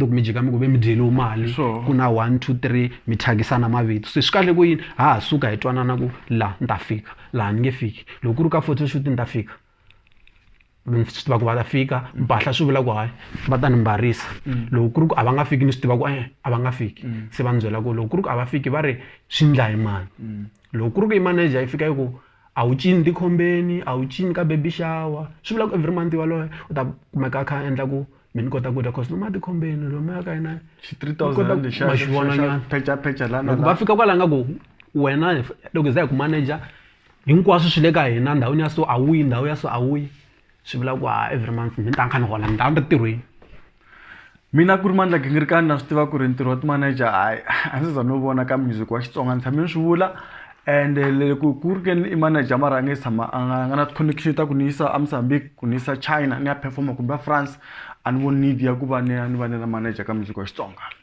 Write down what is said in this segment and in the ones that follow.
loko mi jika mi ku ve mi dyeliwe mali Sure. ku na one two three mi thyakisana mavito se swi kahle ku yini ha ha suka hi twanana ku laha ni ta fika laha ni nge fiki loko ku ri ka photoshoot ni ta fika swi tiva ku va ta fika mpahla swi vula ku hayi va ta ni mbarisa mm. loko ku ri ku a va nga fiki ni swi tiva ku e a va nga fiki mm. se va ni byela ku loko ku ri ku a va fiki va ri swi ndla hi mani mm. loko ku ri ku i manager yi fika yi ku a wu cini tikhombeni a wu cini ka baby shower swi vula ku every month waloye u ta kumeka a kha a endla ku mi ni kota ku dya cause noma tikhombeni lomoya ka yena ma xi vonanyana va fika kwala nga ku wena loko za hi ku manager hinkwaswo swi le ka hina ndhawini ya so a wu yi ndhawu ya so a wu yi swi vula ku a every month ni ta ni kha ni hola ni ta ni ri ntirhweni mina ku ri mandla gingirikani na swi tiva ku ri ntirho wa ti-manager hayi a ndzi za no vona ka music wa xitsonga ni tshame ni swi vula and loko ku ri ke ni i manager mara a nge tshama a nga nga na ti-connection ta ku ni yisa a mozambique ku ni yisa china ni ya performer kumbe a france a ni voni need ya ku va ni ya ni va ni ri manager ka music wa xitsonga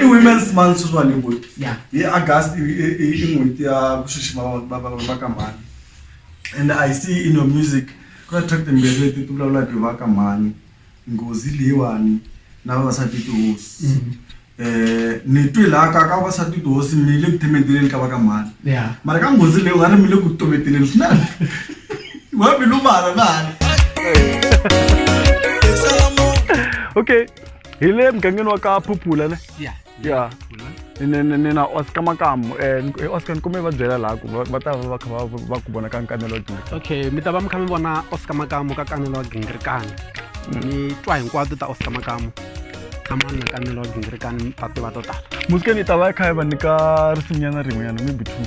i women's month sweswiwani hi ku Yeah. hi august i i- i- i n'hweti ya ku xixima va- va- va- va ka mhani and i see in your music ku na track timbirhi leti ti vulavulaka hi va ka mhani nghozi leyiwani na vavasati tihosi um ni twe laha ka ka vavasati tihosi mi le ku themeteleni ka va ka mhani Yeah. mara ka nghozi leyi u nga ri mi le ku toveteleni swinene Wapi luma ala na ala. okay hi le mugangeni wa ka phuphula ne Yeah. ya ni ni- ni- ni na oscar makamu um oscar ni kume va byela laha ku va- va ta va va kha va- va ku vona ka nkanelo dyondzisa okay mi ta va mi kha mi vona oscar makamu ka kanelo wa gingirikani mi twa hinkwato ta oscar makamu na mani na kanelo wa gingirikani mi ta tiva to tala musikeni yi ta va yi kha yi va nyika risimunyana rin'wenyana maybe two